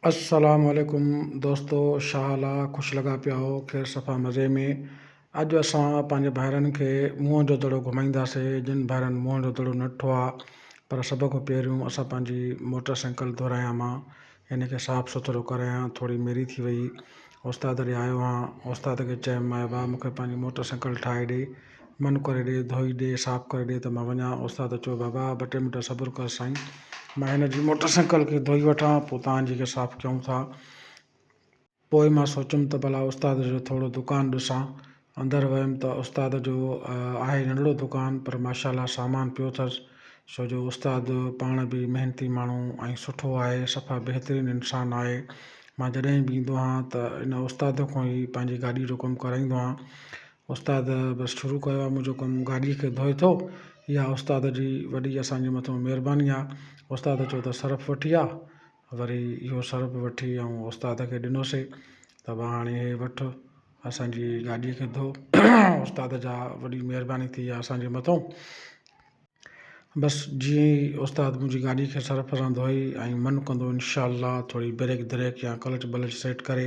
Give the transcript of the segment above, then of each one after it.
السلام عليڪم دوستو شا حال آ خوش لڳا پيا آهو خير صفا مزي ۾ اڄ اسان پنهنجي ڀائرن کي موهن جو دڙو گهمائينداسي جن ڀائرن موهن جو دڙو نه ڏٺو آ پر سڀ کان پهريون اسان پنهنجي موٽر سائيڪل ڌرايان مان ان کي صاف سٿرو ڪرايان ٿوري ميري ٿي وئي استاد ڏي آيو هان استاد کي چيم مائبا مون کي پنهنجي موٽر سائيڪل ٺاهي ڏي منھن ڪري ڏي، ڌوئي ڏي، صاف ڪري ڏي ته مان وڃان. استاد چيو، بابا ٻه ٽي منٽ صبر ڪر سائين، مان ھن جي موٽر سائيڪل کي ڌوئي وٺان، پوء توھان جي کي صاف ڪيون ٿا. پوء مان سوچيم ته ڀلا استاد جو ٿورو دڪان ڏسان. اندر ويم ته استاد جو آھي ننڍڙو دڪان پر ماشاءالله سامان پيو اٿس، ڇو جو استاد پاڻ به محنتي ماڻھو ۽ سٺو آھي، صفا بهترين انسان آھي. مان جڏھن به ايندو آھيان ته ان استاد کان ئي پنھنجي گاڏي جو ڪم ڪرائيندو آھيان. استاد بس شروع ڪيو آ منهنجو ڪم گاڏي کي ڌوئي ٿو اها استاد جي وڏي اسان جي مٿو مهرباني آ استاد چو ته سرف وٺي آ وري اهو سرف وٺي ۽ استاد کي ڏنوسي ته وا هاڻي هي وٺ اسانجي گاڏي کي ڌو استاد جا وڏي مهرباني ٿي آ اسان جي مٿو بس جيئن ئي استاد منهنجي گاڏي کي سرف سان ڌوئي ۽ من ڪندو انشاء الله ٿوري بريڪ دريڪ يا ڪلچ بلچ سيٽ ڪري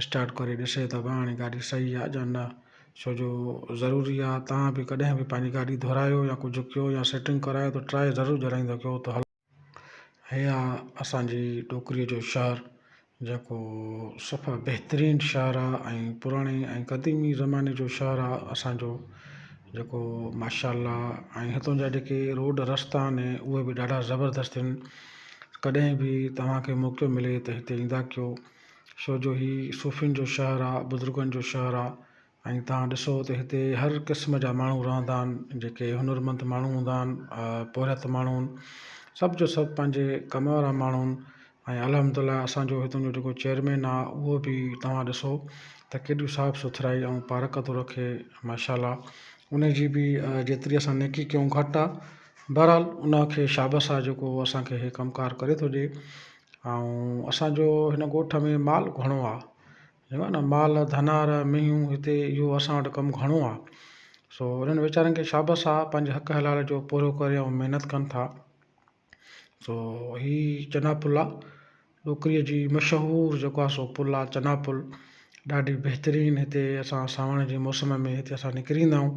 اسٽارٽ ڪري ڏسي ته پراڻي گاڏي صحيح آ جا نه ڇو جو ضروري آ تان به ڪڏهن به پنهنجي گاڏي دهرايو يا ڪجهه ڪيو يا سيٽنگ ڪرايو ته ٽرائي ضرور ڄرائيندا ڪيو ته هلو هي آ اسان جي ٽوڪري جو شهر جيڪو صفا بهترين شهر آ ۽ پراڻي ۽ قديمي زماني جو شهر آ اسان جو جيڪو ماشاء الله ۽ هتان جا جيڪي روڊ رستا آهن اهي به ڏاڍا زبردست ڪڏهن به توهان کي موقعو ملي ته هتي ايندا ڪيو ڇو جو هي صوفين جو شهر آ بزرگن جو شهر آ ۽ توهان ڏسو ته هتي هر قسم جا ماڻهو رهندا آهن جيڪي هنر مند ماڻهو هوندا آهن پورهيت ماڻهو هن سڀ جو سڀ پنهنجي ڪم وارا ماڻهو هن ۽ الحمد الله اسانجو هتان جو جيڪو چيئرمين آ اهو به توهان ڏسو ته ڪيڏي صاف سٿرائي ۽ پارڪ ٿو رکي ماشاء الله ان جي به جيتري اسان نيڪي ڪيون گهٽ آ بهرحال ان کي شابس آ جيڪو اسانکي هي ڪم ڪار ڪري ٿو ڏي ۽ اسان جو هن ڳوٺ ۾ مال گهڻو آ چئبو آ نه مال ڌنار مينهون هتي اهو اسان وٽ ڪم گهڻو آ سو انهن ويچارن کي شابس آ پنهنجي حق حلال جو پورو ڪري ۽ محنت ڪن ٿا سو هي چنا پل آ ڏوڪري جي مشهور جيڪو آ سو پل آ چنا پل ڏاڍي بهترين هتي اسان ساوڻ جي موسم ۾ هتي اسان نڪري ايندا آهيون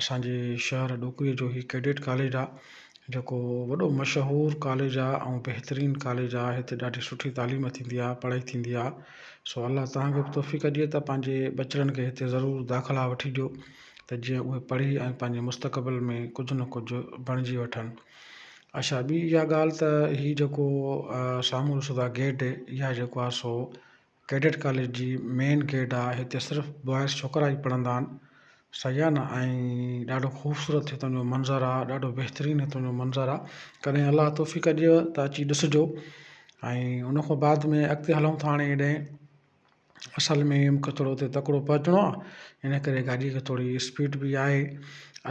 اسان جي شهر ڏوڪري جو هي ڪيڊٽ ڪاليج آ جيڪو وڏو مشهور ڪاليج آ ۽ بهترين ڪاليج آ هتي ڏاڍي سٺي تعليم ٿيندي آ پڙهائي ٿيندي آ سو الله توهان کي به توفيق ڏي ته پنهنجي ٻچڙن کي هتي ضرور داخلا وٺي ڏيو ته جيئن اهي پڙهي ۽ پنهنجي مستقبل ۾ ڪجهه نه ڪجهه بڻجي وٺن اڇا ٻي اها ڳالهه ته هي جيڪو سامهون ڏسو ٿا گيٽ اها جيڪو آ سو ڪيڊٽ ڪاليج جي مين گيٽ آ هتي صرف بوائز ڇوڪرا ئي پڙهندا آهن صحيح آ نه ۽ ڏاڍو خوبصورت هتان جو منظر آ ڏاڍو بهترين هتان جو منظر آ ڪڏهن الله توفيق ڏيئو ته اچي ڏسجو ۽ ان کان بعد ۾ اڳتي هلون ٿا هاڻي هيڏانهن اصل ۾ مون کي ٿورو اتي تڪڙو پهچڻو آ ان ڪري گاڏي کي ٿوري اسپيڊ بي آهي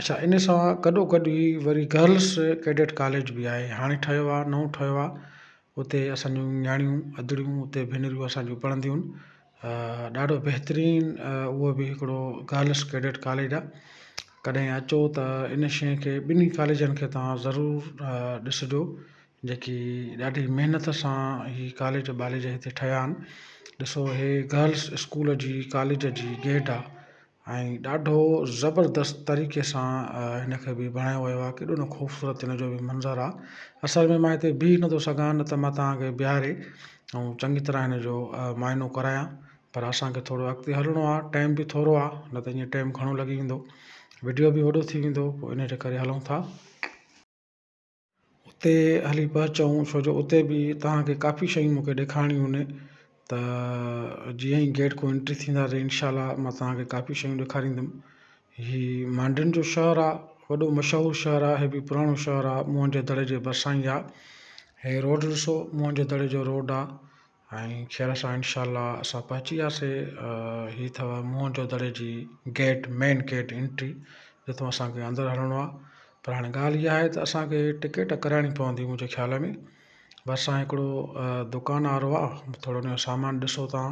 اڇا ان سان گڏو گڏ هي وري گرلس ڪيڊٽ ڪاليج بي آهي هاڻي ٺهيو آ نئون ٺهيو آ اتي اسان جون نياڻيون ادڙيون اتي ڀينريون اسان جون پڙهنديون هن ڏاڍو بهترين اهو به هڪڙو گرلس ڪيڊٽ ڪاليج آ ڪڏهن اچو ته ان شئي کي ٻنهي ڪاليجن کي توهان ضرور ڏسجو جيڪي ڏاڍي محنت سان هي ڪاليج باليج هتي ٺهيا آهن ڏسو هي گرلس اسڪول جي ڪاليج جي گيٽ آ ۽ ڏاڍو زبردست طريقي سان هن کي به بڻايو ويو آهي ڪيڏو نه خوبصورت هن جو به منظر آهي اصل ۾ مان هتي بيهي نٿو سگهان نه ته مان توهان کي بيهاري ۽ چڱي طرح هن جو معائنو ڪرايان پر اسانکي ٿورو اڳتي هلڻو آهي ٽائيم به ٿورو آهي نه ته ايئن ٽائيم گهڻو لڳي ويندو وڊيو به وڏو ٿي ويندو پوء ان جي ڪري هلون ٿا اتي هلي پهچون ڇو جو اتي به تهان کي ڪافي شيون مون کي ڏيکارڻيون هن ته جيئن ئي گيٽ کون انٽري ٿيندا ته انشاء الله ما تهان کي ڪافي شيون ڏيکاريندم هي مانڊوين جو شهر آ وڏو مشهور شهر آ هي به پراڻو شهر آ موهن جو دڙي جي ڀرسان ئي آ هي روڊ ڏسو موهن جو دڙي جو روڊ آ ۽ خير سان انشاء الله اسان پهچي وياسي هي اٿو موهن جو دڙي جي گيٽ مين گيٽ انٽري جتو اسانکي اندر هلڻو آهي پر هاڻي ڳالهه اها آهي ته اسانکي ٽڪيٽ ڪرائڻي پوندي منهنجي خيال ۾ ڀرسان هڪڙو دڪان وارو آهي ٿورو انهو سامان ڏسو تان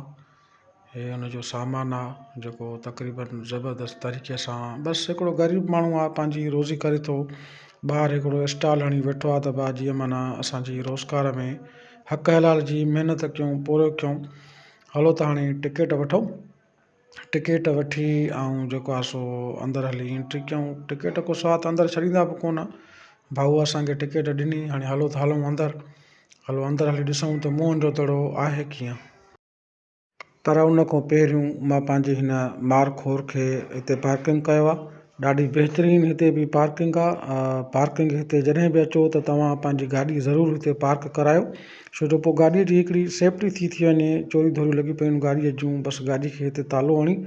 هي ان جو سامان آ جيڪو تقريبن زبردست طريقي سان بس هڪڙو غريب ماڻهو آ پنهنجي روزي ڪري ٿو ٻاهر هڪڙو اسٽال هڻي ويٺو آ ته با جيئن معنيٰ اسان جي روزگار ۾ حق حلال جي محنت ڪيون پورهيو ڪيون هلو ته هاڻي ٽڪيٽ وٺو ٽڪيٽ وٺي ۽ جيڪو آ سو اندر هلي انٽري ڪيون ٽڪيٽ ڪو سوال ته اندر ڇڏيندا به ڪونه ڀائو اسانکي ٽڪيٽ ڏني هاڻي هلو ته هلون اندر هلو اندر هلي ڏسون ته موهن جو دڙو آهي ڪيئن پر ان کان پهريون مان پنهنجي هن مار خور کي هتي پارڪنگ ڪيو آهي ڏاڍي بهترين هتي بي پارڪنگ آهي پارڪنگ هتي جڏهن به اچو ته توهان پنهنجي گاڏي ضرور هتي پارڪ ڪرايو ڇو جو پوء گاڏي جي هڪڙي سيفٽي ٿي ٿي وڃي چوريون ڌوريون لڳي پيون آهن گاڏي جون بس گاڏي کي هتي تالو هڻي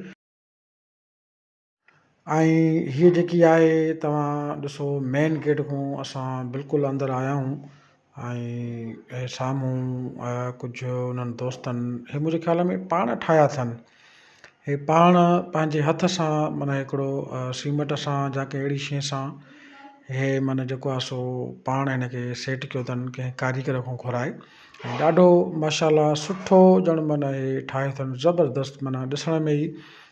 ۽ هيء جيڪي آهي توهان ڏسو مين گيٽ کان اسان بلڪل اندر آيا آهيون ۽ سامهون ڪجهه انهن دوستن هي منهنجي خيال ۾ پاڻ ٺاهيا اٿن هي پاڻ پنهنجي هٿ سان معنيٰ هڪڙو سيمٽ سان جا ڪنهن اهڙي شيء سان هي معنيٰ جيڪو آهي سو پاڻ هن کي سيٽ ڪيو اٿن ڪنهن ڪاريگر کان گهرائي ۽ ڏاڍو ماشاء الله سٺو ڄڻ معنيٰ هي ٺاهيو اٿن زبردست معنيٰ ڏسڻ ۾ ئي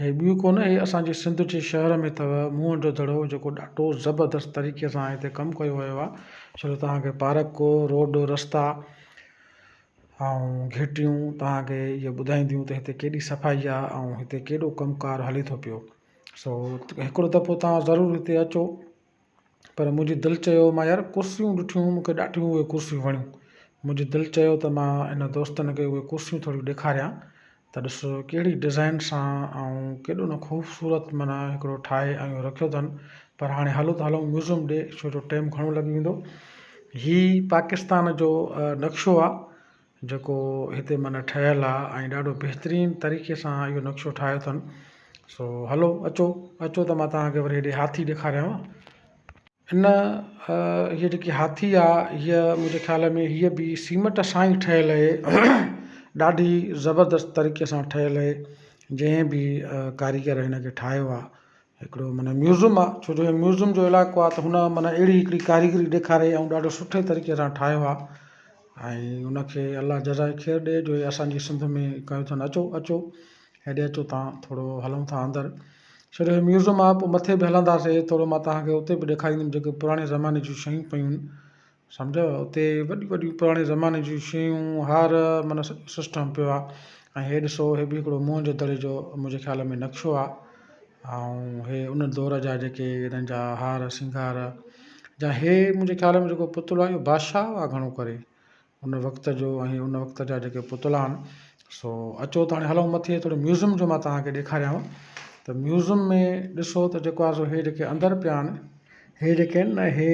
هي ٻيو ڪونه هي اسان جي سنڌ جي شهر ۾ اٿو موهن جو دڙو جيڪو ڏاڍو زبردست طريقي سان هتي ڪم ڪيو ويو آهي ڇو جو توهان کي پارڪ روڊ رستا ۽ گهٽيون توهان کي اهي ٻڌائينديون ته هتي ڪيڏي صفائي آهي ۽ هتي ڪيڏو ڪم ڪار هلي ٿو پيو سو هڪڙو دفعو توهان ضرور هتي اچو پر منهنجي دل چيو مان يار ڪرسيون ڏٺيون مون کي ڏاڍيون اهي ڪرسيون وڻيون منهنجي دل چيو ته مان انهن دوستن کي اهي ڪرسيون ٿوريون ڏيکاريان ته ڏس ڪهڙي ڊزائين سان ۽ ڪيڏو نه خوبصورت معنيٰ هڪڙو ٺاهي اهو رکيو اٿن پر هاڻي هلو ته هلون ميوزيم ڏي ڇو جو ٽيم گهڻو لڳي ويندو هي پاڪستان جو نقشو آهي جيڪو هتي معنيٰ ٺهيل آ ۽ ڏاڍو بهترين طريقي سان اهو نقشو ٺاهيو اٿن سو هلو اچو اچو ته مان توهان کي وري هيڏي هاٿي ڏيکاريانو ان هيء جيڪي هاٿي آ هيء منهنجي خيال ۾ هيء به سيمٽ سان ئي ٺهيل اهي ڏاڍي زبردست طريقي سان ٺهيل اهي جنهن به ڪاريگر هن کي ٺاهيو آ هڪڙو معنيٰ ميوزم آ ڇو جو ميوزم جو علائقو آ ته هن معنيٰ اهڙي هڪڙي ڪاريگري ڏيکاري ۽ ڏاڍو سٺي طريقي سان ٺاهيو آ ۽ ان کي الله جزائي خير ڏي جو اسان جي سنڌ ۾ ڪيو اٿن اچو اچو هيڏي اچو تان ٿورو هلون ٿا اندر ڇو جو هي ميوزم آ پوء مٿي به هلنداسي ٿورو مان توهان کي اتي به ڏيکاريندم جيڪي پراڻي زماني جون شيون پيون سمجهيو اتي وڏيون وڏيون پراڻي زماني جون شيون هار معنيٰ سڄو سسٽم پيو آهي ۽ هي ڏسو هي بي هڪڙو موهن جو دڙي جو منهنجي خيال ۾ نقشو آهي ۽ هي ان دور جا جيڪي هنن جا هار سينگار جا هي منهنجي خيال ۾ جيڪو پتڙو آهي اهو بادشاهه هئا گهڻو ڪري ان وقت جو ۽ ان وقت جا جيڪي پتڙا آهن سو اچو ته هاڻي هلون مٿي ٿورو ميوزم جو مان توهان کي ڏيکاريانو ته ميوزم ۾ ڏسو ته جيڪو آهي سو هي جيڪي اندر پيا آهن هي جيڪي آهن نه هي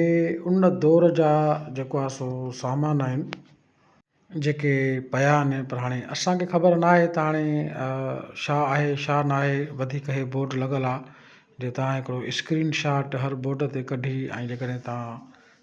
ان دور جا جيڪو آهي سو سامان آهن جيڪي پيا آهن پر هاڻي اسانکي خبر نه آهي ته هاڻي شا آهي شا نه آهي وڌيڪ هي بورڊ لڳل آهي جي توهان هڪڙو اسڪرين شاٽ هر بورڊ تي ڪڍي ۽ جي ڪڏهن توهان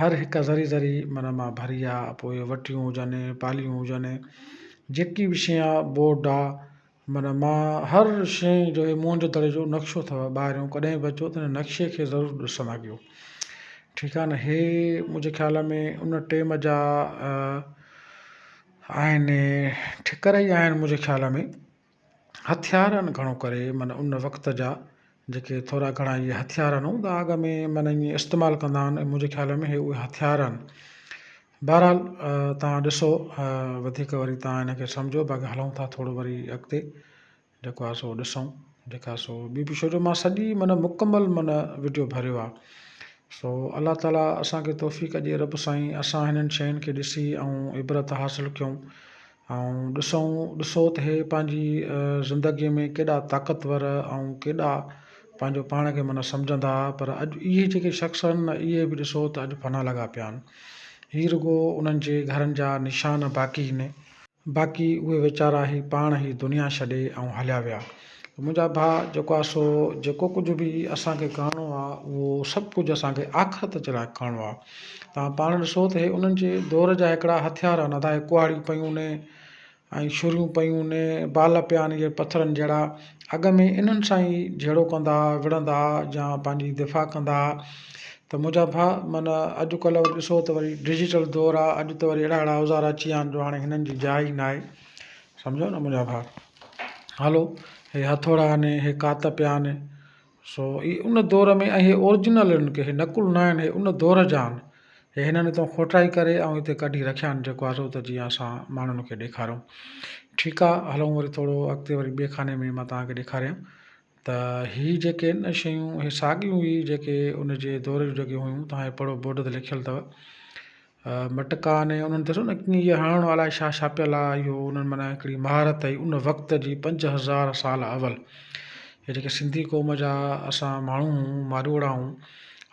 هر هڪ ذري ذري من مان ڀري آ، پوء وٽيون هجن، پاليون هجن، جيڪي به شيء آ، بورڊ آ، من مان هر شيء جو هي موهن جو دڙي جو نقشو اٿئو ٻاهريون ڪڏهن به اچو ته هن نقشي کي ضرور ڏسڻ اڳيو ٺيڪ آ نه هي منهنجي خيال ۾ ان ٽيم جا آهن ٺڪر ئي آهن منهنجي خيال ۾ هٿيار ان گهڻو ڪري من ان وقت جا جيڪي ٿورا گهڻا اهي هٿيار ان هوندا آڳ ۾ من اهي استعمال ڪندا آهن ۽ منهنجي خيال ۾ اهي هٿيار آهن بهرحال توهان ڏسو وڌيڪ وري توهان ان کي سمجهو باقي هلون ٿا ٿورو وري اڳتي جيڪو آهي سو ڏسون جيڪا سو ٻي به شروع مان سڄي من مڪمل من وڊيو ڀريو آهي سو الله تعالیٰ اسانکي توفيق ڏي رب سائين اسان هنن شين کي ڏسي عبرت حاصل ڪيون ۽ ڏسون ڏسو ته هي پنهنجي زندگيء ۾ ڪيڏا طاقتور ۽ ڪيڏا پنهنجو پاڻ کي معنيٰ سمجهندا ها پر اڄ اهي جيڪي شخص آهن نه اهي به ڏسو ته اڄ فنا لڳا پيا آهن. هي رڳو انهن جي گهرن جا نشان باقي هين. باقي اهي ويچارا هي پاڻ هي دنيا ڇڏي ۽ هليا ويا. منهنجا ڀاء جيڪو آهي سو جيڪو ڪجهه به اسان کي ڪرڻو آهي اهو سڀ ڪجهه اسان کي آخرت جي لاء ڪرڻو آهي تان پاڻ ڏسو ته هي انهن جي دور جا هڪڙا هٿيار آهن ادا هي ڪهاڙيون پيون هوني ۽ شريون پيون هوني بال پيا آهن اهي پٿرن جهڙا اڳ ۾ انهن سان ئي جهيڙو ڪندا هئا وڙهندا هئا يا پنهنجي دفاع ڪندا هئا ته منهنجا ڀاء من اڄڪلهه وري ڏسو ته وري ڊجيٽل دور آهي اڄ ته وري اهڙا اهڙا اوزار اچي ويا آهن جو هاڻي هنن جي جاء ئي ناهي سمجهيو نه منهنجا ڀاء هالو هي هٿوڙا آهن، هي ڪات پيا آهن، سو هي ان دور ۾ ۽ هي اورجنل آهن ڪي هي نقل ناهن هي ان دور جا آهن، هي هنن هتان کوٽائي ڪري ۽ هتي ڪڍي رکيا آهن جيڪو آهي سو ته جيئن اسان ماڻهن کي ڏيکاريون. ٺيڪ آهي هلون وري ٿورو اڳتي وري ٻئي خاني ۾ مان توهان کي ڏيکاريان. ته هي جيڪي آهن نه شيون هي ساڳيون ئي جيڪي ان جي دور جون جيڪي هيون توهان هي پڙهو بورڊ تي لکيل اٿو مٽڪا آهن انهن ڏسو نه ڪيئن هي هڻڻو الائي ڇا ڇاپيل آهي اهو انهن معنيٰ هڪڙي مهارت هئي ان وقت جي پنج هزار سال اول هي جيڪي سنڌي قوم جا اسان ماڻهو هيون ماروئڙا هيون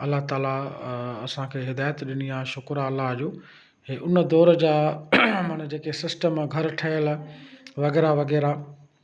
الله تعاليٰ اسانکي هدايت ڏني آهي شڪر آهي الله جو هي ان دور جا معنيٰ جيڪي سسٽم گهر ٺهيل وغيره وغيره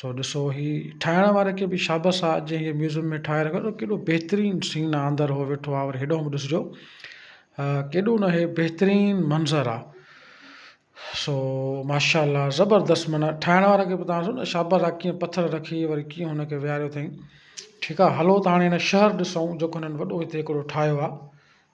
سو ڏسو هي ٺاهڻ واري کي به شابس آ جنهن هي ميوزم ۾ ٺاهي رکيو ڏسو ڪيڏو بهترين سين آ اندر هو ويٺو آ وري هيڏانهن به ڏسجو ڪيڏو نه هي بهترين منظر آ سو ماشاءالله زبردست معنيٰ ٺاهڻ واري کي به تان ڏسو نه شابس آ ڪيئن پٿر رکي وري ڪيئن هن کي ويهاريو اٿئين ٺيڪ آ هلو ته هاڻي هن شهر ڏسون جيڪو هنن وڏو هتي هڪڙو ٺاهيو آ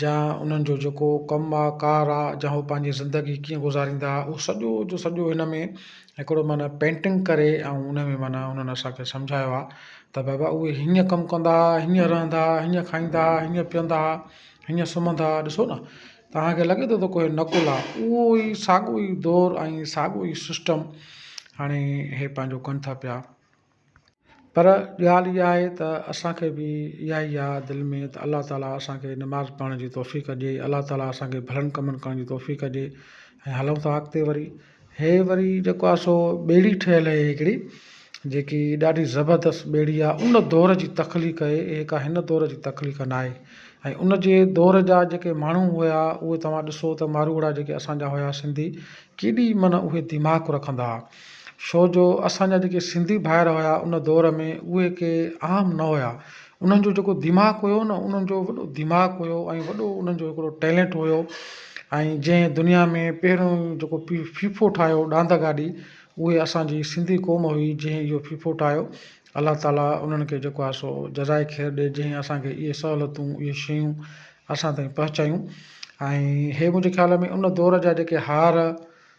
جا انهن جو جيڪو ڪم آ ڪار آ جا هو پنهنجي زندگي ڪيئن گذاريندا هئا اهو سڄو جو سڄو هن ۾ هڪڙو معنيٰ پينٽنگ ڪري ۽ ان ۾ معنيٰ انهن اسان کي سمجهايو آ ته بابا اهي هيئن ڪم ڪندا هئا هيئن رهندا هئا هيئن کائيندا هئا هيئن پيئندا هئا هيئن سمهندا هئا ڏسو نا توهان کي لڳي ٿو ته ڪوهي نقل آ اهو ئي ساڳو ئي دور ۽ ساڳو ئي سسٽم هاڻي هي پنهنجو ڪن ٿا پيا پر ڳالهه اها آهي ته اسان کي به اها ئي آهه دل ۾ ته الله تعاليٰ اسان کي نماز پڙهڻ جي توفيق ڏي الله تعاليٰ اسان کي ڀلن ڪمن ڪرڻ جي توفيق ڏي ۽ هلون ٿا اڳتي وري هي وري جيڪو آهي سو ٻيڙي ٺهيل آهي هڪڙي جيڪي ڏاڍي زبردست ٻيڙي آهي ان دور جي تخليق آهي هي ڪا هن دور جي تخليق ناهي ۽ ان جي دور جا جيڪي ماڻهو هيا اهي توهان ڏسو ته ماروئڙا جيڪي اسان جا هيا سنڌي ڪيڏي معنيٰ اهي دماغ رکندا هئا ڇو جو اسان جا جيڪي سنڌي ڀائر هيا ان دور ۾ اهي ڪي عام نه هيا انهن جو جيڪو دماغ هيو نه انهن جو وڏو دماغ هيو ۽ وڏو انهن جو هڪڙو ٽيلنٽ هيو ۽ جنهن دنيا ۾ پهريون جيڪو پي فيفو ٺاهيو ڏاند گاڏي اهي اسان جي سنڌي قوم هئي جنهن اهو فيفو ٺاهيو الله تعالي انهن کي جيڪو آهي سو جزائي خير ڏي جنهن اسان کي اهي سهولتون اهي شيون اسان تائين پهچايون ۽ هي منهنجي خيال ۾ ان دور جا جيڪي هار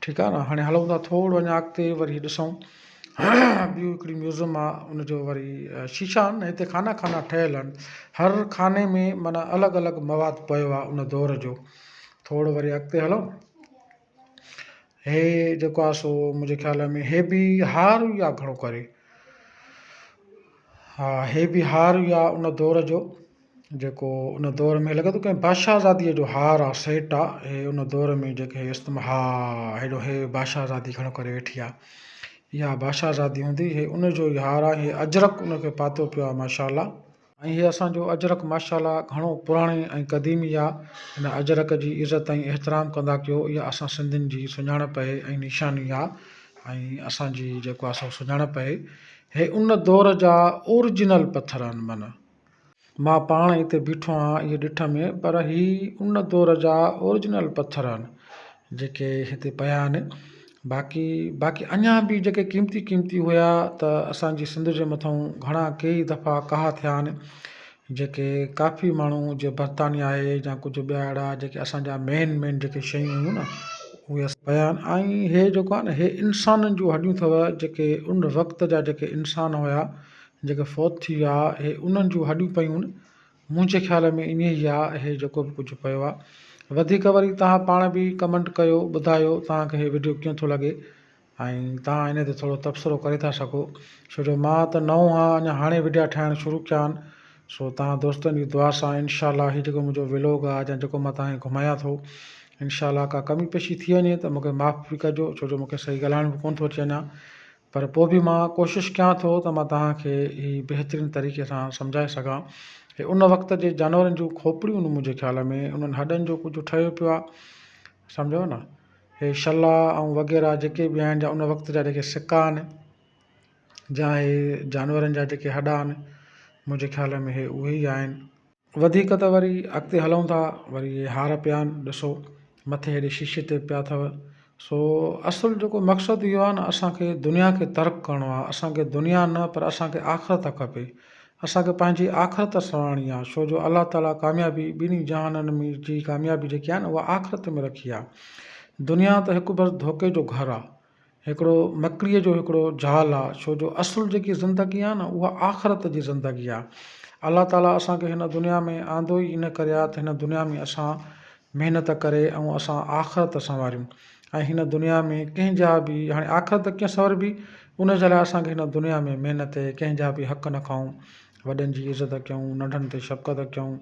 ٺيڪ آهي نه هاڻي هلون ٿا ٿورو اڃا اڳتي وري ڏسون ٻيو هڪڙي ميوزم آ ان جو وري شيشا آهن هتي خانا خانا ٺهيل آهن هر خاني ۾ معنيٰ الڳ الڳ مواد پيو آ ان دور جو ٿورو وري اڳتي هلون هي جيڪو آ سو منهنجي خيال ۾ هي به هار ئي آ گهڻو ڪري ها هي به هار ئي آ ان دور جو جيڪو ان دور ۾ لڳي ٿو ڪنهن بادشاهه زاديء جو هار آ سيٽ آ هي ان دور ۾ جيڪي استعمال ها هيڏو هي بادشاهه زادي کڙو ڪري ويٺي آ اها بادشاهه زادي هوندي هي ان جو ئي هار آ هي اجرڪ ان کي پاتو پيو آ ماشاءالله ۽ هي اسانجو اجرڪ ماشاءالله گهڻو پراڻي ۽ قديمي آ ان اجرڪ جي عزت ۽ احترام ڪندا ڪيو اها اسان سنڌين جي سڃاڻپ اهي ۽ نيشاني آ ۽ اسان جي جيڪو آ سو سڃاڻپ اهي هي ان دور جا اورجنل پٿر آن من مان پاڻ اتي بيٺو آهيان اهي ڏٺ ۾ پر هي ان دور جا اورجنل پٿر آهن جيڪي هتي پيا آهن باقي باقي اڃا به جيڪي قيمتي قيمتي هيا ته اسان جي سنڌ جي مٿئون گهڻا ڪيئي دفعا ڪاها ٿيا آهن جيڪي ڪافي ماڻهو جي برطانيا آهي جا ڪجهه ٻيا اهڙا جيڪي اسان جا مين مين جيڪي شيون هيون نه اهي اسان پيا آهن ۽ هي جيڪو آهي نه هي انسانن جون هڏيون اٿو جيڪي ان وقت جا جيڪي انسان هيا جيڪي فوت ٿي ويا ها اهي انهن جون هڏيون پيون منهنجي خيال ۾ ائين ئي آ اهي جيڪو به ڪجهه پيو آ وڌيڪ وري توهان پاڻ به ڪمنٽ ڪيو ٻڌايو توهان کي هي وڊيو ڪيئن ٿو لڳي ۽ توهان هن تي ٿورو تبصرو ڪري ٿا سگهو ڇو جو مان ته نئون هان اڃا هاڻي وڊيا ٺاهڻ شروع ڪيا آهن سو توهان دوستن جي دعا سان انشاء الله هي جيڪو منهنجو ولوگ آ جا جيڪو مان توهان کي گهمايان ٿو انشاء الله ڪا ڪمي پيشي ٿي وڃي ته مونکي معاف به ڪجو ڇو جو مونکي صحيح ڳالهائڻ به ڪون ٿو اچي اڃا پر پوء به مان ڪوشش ڪيان ٿو ته مان توهان کي هي بهترين طريقي سان سمجهائي سگهان. هي ان وقت جي جانورن جون کوپڙيون هن منهنجي خيال ۾ انهن هڏن جو ڪجهه ٺهيو پيو آهي. سمجهيو نه. هي شلا ۽ وغيره جيڪي به آهن جا ان وقت جا جيڪي سڪا آهن جا هي جانورن جا جيڪي هڏا آهن منهنجي خيال ۾ هي اهي ئي آهن. وڌيڪ ته وري اڳتي هلون ٿا وري اهي هار پيا آهن ڏسو مٿي هيڏي شيشي تي پيا اٿو سو اصل جيڪو مقصد اهو آهي نه اسانکي دنيا کي ترڪ ڪرڻو آهي اسانکي دنيا نه پر اسانکي آخرت کپي اسانکي پنهنجي آخرت سنوارڻي آهي شو جو الله تعالي ڪاميابي ٻنهي جهانن جي ڪاميابي جيڪي آهي نه اها آخرت ۾ رکي آهي دنيا ته هڪ بس ڌوڪي جو گهر آهي هڪڙو مڪريء جو هڪڙو جال آ، ڇو جو اصل جيڪي زندگي آ نه اها آخرت جي زندگي آ. الله تعاليٰ اسان کي هن دنيا ۾ آندو ئي ان ڪري آ ته هن دنيا ۾ اسان محنت ڪري ۽ اسان آخرت سنواريون ۽ هن دنيا ۾ ڪنهن جا به هاڻي آخرت ڪيئن سنوربي ان جي لاء اسان کي هن دنيا ۾ محنت اهي ڪنهن جا به حق نه کائون، وڏن جي عزت ڪيون، ننڍن تي شفقت ڪيون،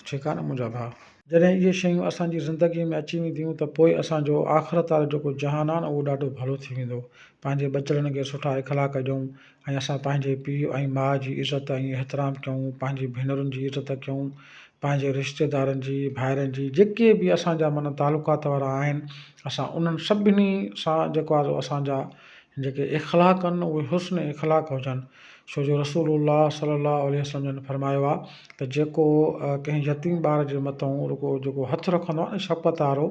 ٺيڪ آ نه منهنجا ڀاء. جڏهن اهي شيون اسان جي زندگيء ۾ اچي وينديون ته پوء اسان جو آخرت وارو جيڪو جهان آهي نه اهو ڏاڍو ڀلو ٿي ويندو. پنهنجي ٻچڙن کي سٺا اخلاق ڏيون ۽ اسان پنهنجي پيء ۽ ماء جي عزت ۽ احترام ڪيون، پنهنجي ڀينرن جي عزت ڪيون، پنهنجي رشتيدارن جي، ڀائرن جي، جيڪي به اسان جا معنيٰ تعلقات وارا آهن، اسان انهن سڀني سان جيڪو آهي سو اسان جا جيڪي اخلاق ڪن اهي حسن اخلاق هجن ڇو جو رسول الله صلي الله عليه وسلم جن فرمايو آهي ته جيڪو ڪنهن يتيم ٻار جي مٿئون رڳو جيڪو هٿ رکندو آهي نه شفقت وارو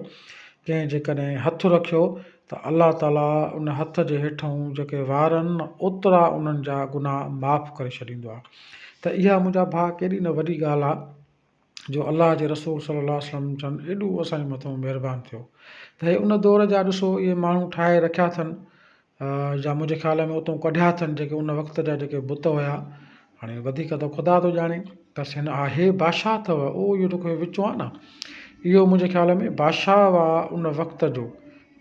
ڪنهن جيڪڏهن هٿ رکيو ته الله تعالي ان هٿ جي هيٺئون جيڪي وار آهن اوترا انهن جا گناهه معاف ڪري ڇڏيندو آهي ته اها منهنجا ڀاء ڪيڏي نه وڏي ڳالهه آهي جو الله جي رسول صلي الله عليه وسلم جن ايڏو اسان جي مٿان مهربان ٿيو ته هي ان دور جا ڏسو اهي ماڻهو ٺاهي رکيا اٿن جا منهنجي خيال ۾ اتون ڪڍيا اٿن جيڪي ان وقت جا جيڪي بت هيا هاڻي وڌيڪ ته خدا ٿو ڄاڻي بس هن آهي بادشاهه اٿو اهو اهو جيڪو وچون آهي نه اهو منهنجي خيال ۾ بادشاهه هئا ان وقت جو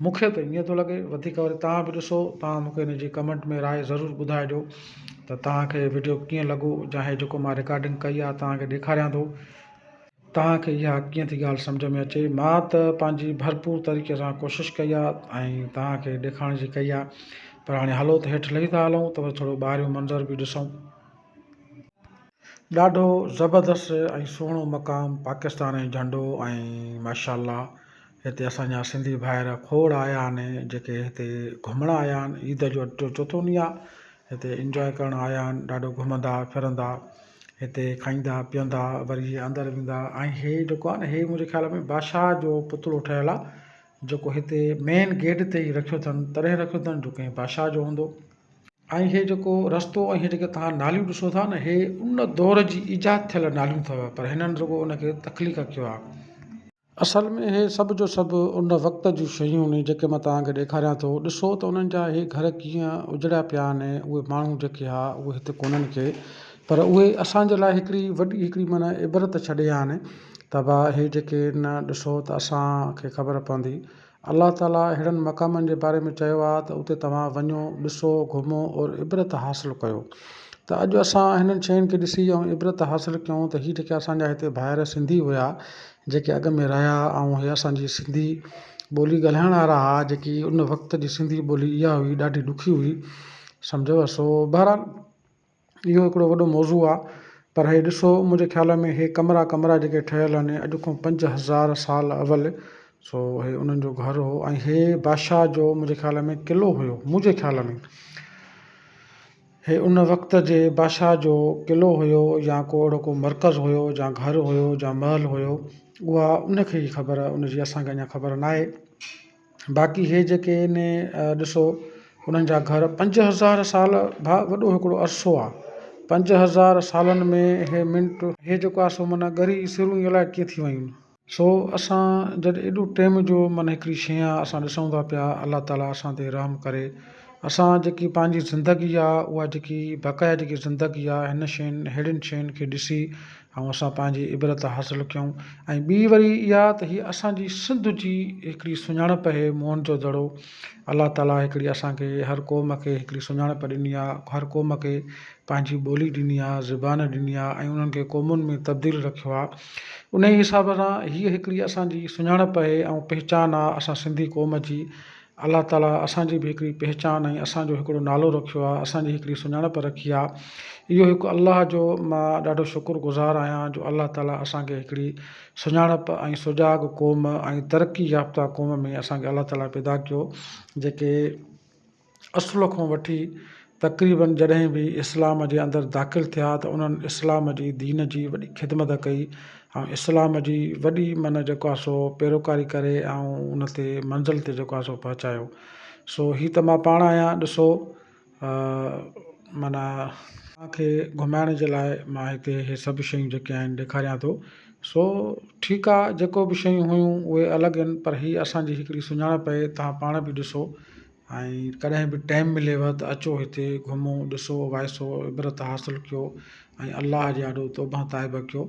مون کي ته ائين ٿو لڳي وڌيڪ وري توهان به ڏسو توهان مون کي ان جي ڪمينٽ ۾ راء ضرور ٻڌائجو ته توهان کي وڊيو ڪيئن لڳو جا هي جيڪو مان رڪارڊنگ ڪئي آهي توهان کي ڏيکاريان ٿو توهان کي اها ڪيئن ٿي ڳالهه سمجهه ۾ اچي مان ته پنهنجي ڀرپور طريقي سان ڪوشش ڪئي آهي ۽ توهان کي ڏيکارڻ جي ڪئي آهي پر هاڻي هلو ته هيٺ لهي ٿا هلون ته وري ٿورو ٻاهريون منظر به ڏسون ڏاڍو زبردست ۽ سهڻو مقام پاڪستان ۽ جهنڊو ۽ ماشاءالله هتي اسان جا سنڌي ڀائر کوڙ آيا آهن جيڪي هتي گهمڻ آيا آهن عيد جو اڄ ٽيون چوٿون ڏينهن آهي هتي انجواء ڪرڻ آيا آهن ڏاڍو گهمندا ڦرندا هتي کائيندا پيئندا وري اندر ويندا ۽ هي جيڪو آهي نه هي منهنجي خيال ۾ بادشاهه جو پتلو ٺهيل آهي جيڪو هتي مين گيٽ تي ئي رکيو اٿن تڏهن رکيو اٿن جو ڪنهن بادشاهه جو هوندو ۽ هي جيڪو رستو ۽ هي جيڪي توهان ناليون ڏسو ٿا نه هي ان دور جي ايجاد ٿيل ناليون اٿو پر هنن رڳو ان کي تخليق ڪيو آهي. اصل ۾ هي سڀ جو سڀ ان وقت جون شيون آهن جيڪي مان توهان کي ڏيکاريان ٿو ڏسو ته انهن جا هي گهر ڪيئن اجڙيا پيا آهن ۽ اهي ماڻهو جيڪي ها اهي هتي ڪونهن ڪي پر اهي اسان جي لاء هڪڙي وڏي هڪڙي معنيٰ عبرت ڇڏي آهن ته ڀا هي جيڪي نه ڏسو ته اسان کي خبر پوندي الله تعاليٰ اهڙن مقامن جي باري ۾ چيو آهي ته اتي توهان وڃو، ڏسو، گهمو اور عبرت حاصل ڪيو ته اڄ اسان هنن شين کي ڏسي ۽ عبرت حاصل ڪيون ته هي جيڪي اسان جا هتي ڀائر سنڌي هيا جيڪي اڳ ۾ رهيا ۽ هي اسان جي سنڌي ٻولي ڳالهائڻ وارا ها جيڪي ان وقت جي سنڌي ٻولي اها هئي ڏاڍي ڏکي هئي سمجهيو سو بهرحال اهو هڪڙو وڏو موضوع آ پر هي ڏسو منهنجي خيال ۾ هي ڪمرا ڪمرا جيڪي ٺهيل آهن اڄ کان پنج هزار سال اول سو هي انهن جو گهر هو ۽ هي بادشاهه جو منهنجي خيال ۾ قلعو هيو منهنجي خيال ۾ هي ان وقت جي بادشاهه جو قلعو هيو يا ڪو اهڙو ڪو مرڪز هيو جا گهر هيو جا محل هيو اها ان کي ئي خبر ان جي اسان کي اڃان خبر ناهي باقي هي جيڪي ان ڏسو انهن جا گهر پنج هزار سال ڀا وڏو هڪڙو عرصو آ پنج هزار سالن ۾ هي منٽ هي جيڪو آ سو معنيٰ ڳري سرون ئي الائي ڪيئن ٿي ويون. سو اسان جڏهن ايڏو ٽيم جو معنيٰ هڪڙي شيء آ اسان ڏسون ٿا پيا الله تعالي اسان تي رحم ڪري اسان جيڪي پنهنجي زندگي آ اها جيڪي بقايا جيڪي زندگي آ هن شين ههڙين شين کي ڏسي ۽ اسان پنهنجي عبرت حاصل ڪيون ۽ ٻي وري اها ته هي اسان جي سنڌ جي هڪڙي سڃاڻپ اهي موهن جو دڙو الله تعالي هڪڙي اسان کي هر قوم کي هڪڙي سڃاڻپ ڏني آهي هر قوم کي پنهنجي ٻولي ڏني آهي زبان ڏني آهي ۽ انهن کي قومن ۾ تبديل رکيو آهي انهي حساب سان هي هڪڙي اسان جي سڃاڻپ اهي ۽ پهچان آهي اسان سنڌي قوم جي الله تعاليٰ اسان جي به هڪڙي پهچان ۽ اسان جو هڪڙو نالو رکيو آهي اسان جي هڪڙي سڃاڻپ رکي آهي اهو هڪ الله جو مان ڏاڍو شڪر گذار آهيان جو الله تعاليٰ اسان کي هڪڙي سڃاڻپ ۽ سجاڳ قوم ۽ ترقي يافته قوم ۾ اسان کي الله تعاليٰ پيدا ڪيو جيڪي اصل کان وٺي تقريبن جڏهن به اسلام جي اندر داخل ٿيا ته انهن اسلام جي دين جي وڏي خدمت ڪئي ۽ اسلام جي وڏي من جيڪو آهي سو پيروڪاري ڪري ۽ ان تي منزل تي جيڪو آهي سو پهچايو سو هي ته مان پاڻ آهيان ڏسو معنيٰ اوهان کي گهمائڻ جي لاء مان هتي هي سڀ شيون جيڪي آهن ڏيکاريان ٿو سو ٺيڪ آ جيڪو به شيون هيون اهي الڳ هين پر هي اسان جي هڪڙي سڃاڻپ اهي توهان پاڻ به ڏسو ۽ ڪڏهن به ٽيم مليو ته اچو هتي گهمو ڏسو وائسو عبرت حاصل ڪيو ۽ الله جي آڏو توبه تائبه ڪيو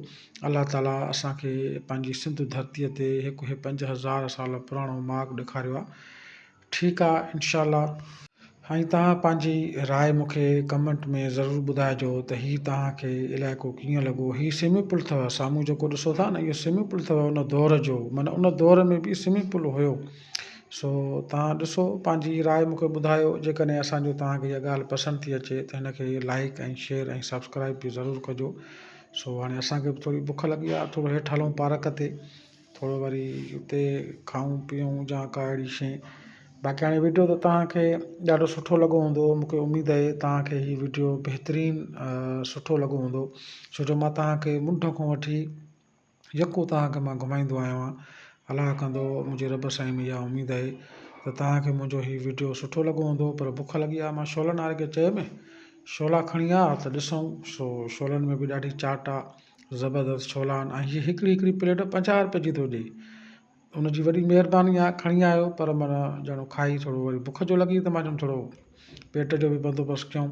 الله تعالي اسان کي پنهنجي سنڌ ڌرتي تي هڪ هي پنج هزار سال پراڻو ماڳ ڏيکاريو آ ٺيڪ آ انشاء الله ۽ توهان پنهنجي راء مون کي ڪمنٽ ۾ ضرور ٻڌائجو ته هي توهان کي علائقو ڪيئن لڳو هي سوئمنگ پول اٿو سامهون جيڪو ڏسو ٿا نه اهو سوئمنگ پول اٿو ان دور جو معنيٰ ان دور ۾ به سوئمنگ پول هيو سو توهان ڏسو پنهنجي راء مون کي ٻڌايو جيڪڏهن اسان جو توهان کي اها ڳالهه پسند ٿي اچي ته هن کي لائيڪ ۽ شيئر ۽ سبسڪرائيب به ضرور ڪجو سو هاڻي اسان کي به ٿوري بک لڳي آهي ٿورو هيٺ هلون پارڪ تي ٿورو وري اتي کائون پيئون جا ڪا اهڙي شي باقي هاڻي وڊيو ته توهان کي ڏاڍو سٺو لڳو هوندو مون کي اميد اهي توهان کي هي وڊيو بهترين سٺو لڳو هوندو ڇو جو مان توهان کي منڍ کان وٺي يڪو توهان کي مان گهمائيندو آهيوان الله ڪندو منهنجي رب سائين ۾ اها اميد آهي ته توهان کي منهنجو هي وڊيو سٺو لڳو هوندو پر بک لڳي آهي مان شعلن واري کي چيم شعلا کڻي آ ته ڏسون سو شعلن ۾ به ڏاڍي چاٽ آ زبردست شعلا آهن ۽ هي هڪڙي هڪڙي پليٽ پنجاهه روپئي جي ٿو ڏئي ان جي وڏي مهرباني آهي کڻي آيو پر من ڄڻو کائي ٿورو وري بک جو لڳي ته مان چيم ٿورو پيٽ جو به بندوبست ڪيون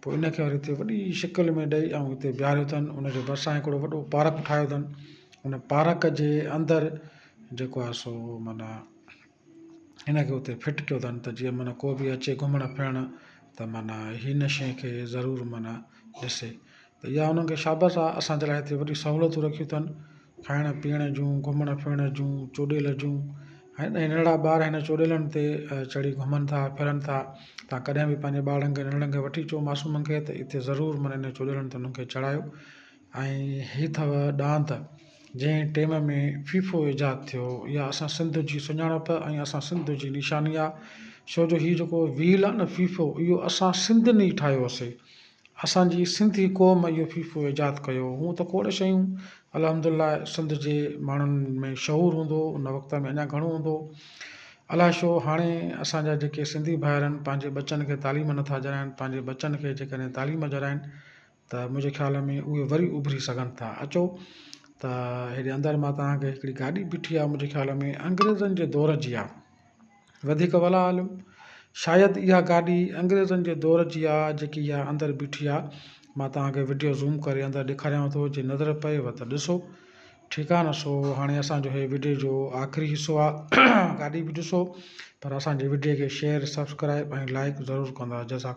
پوء ان کي وري هتي وڏي شڪل ۾ ڏئي ۽ هتي بيهاريو اٿن ان جي ڀرسان هڪڙو وڏو پارڪ ٺاهيو اٿن ان پارڪ جي اندر جيڪو آهي سو معنيٰ ان کي اتي فٽ ڪيو اٿن ته جيئن معنيٰ ڪو بي اچي گهمڻ ڦرڻ ته معنيٰ هن شيء کي ضرور معنيٰ ڏسي ته اها انهن کي شابس آهي اسان جي لاء هتي وڏي سهولتون رکيون اٿن کائڻ پيئڻ جون، گهمڻ ڦرڻ جون، چوڏيل جون ۽ ننڍڙا ٻار هن چوڏيلن تي چڙهي گهمن ٿا ڦرن ٿا تان ڪڏهن به پنهنجي ٻارڙن کي ننڍڙن کي وٺي اچو معصومن کي ته اتي ضرور معنيٰ هن چوڏيلن تي انهن کي چڙهايو ۽ هي اٿو ڏاند جنهن ٽيم ۾ فيفو ايجاد ٿيو اها اسان سنڌ جي سڃاڻپ ۽ اسان سنڌ جي نشاني آهي ڇو جو هي جيڪو ويل آهي نه فيفو اهو اسان سنڌين ئي ٺاهيوسي اسان جي سنڌي قوم اهو فيفو ايجاد ڪيو. هونء ته کوڙ شيون الحمد الله سنڌ جي ماڻهن ۾ شعور هوندو ان وقت ۾ اڃا گهڻو هوندو. الائي شو هاڻي اسان جا جيڪي سنڌي ڀائرن پنهنجي ٻچن کي تعليم نٿا جرائين پنهنجي ٻچن کي جيڪڏهن تعليم جرائين ته منهنجي خيال ۾ اهي وري اڀري سگهن ٿا. اچو ته هيڏي اندر مان توهان کي هڪڙي گاڏي بيٺي آهي منهنجي خيال ۾ انگريزن جي دور جي آهي. وڌيڪ ولا عالم، شايد اها گاڏي انگريزن جي دور جي آ جيڪي اها اندر بيٺي آ. مان توهان کي وڊيو زوم ڪري اندر ڏيکاريانو ٿو جي نظر پئيو ته ڏسو. ٺيڪ آ نه سو هاڻي اسان جو هي وڊيو جو آخري حصو آ گاڏي به ڏسو پر اسان جي وڊيو کي شيئر سبسڪرائب ۽ لائڪ ضرور ڪندا جزاڪ.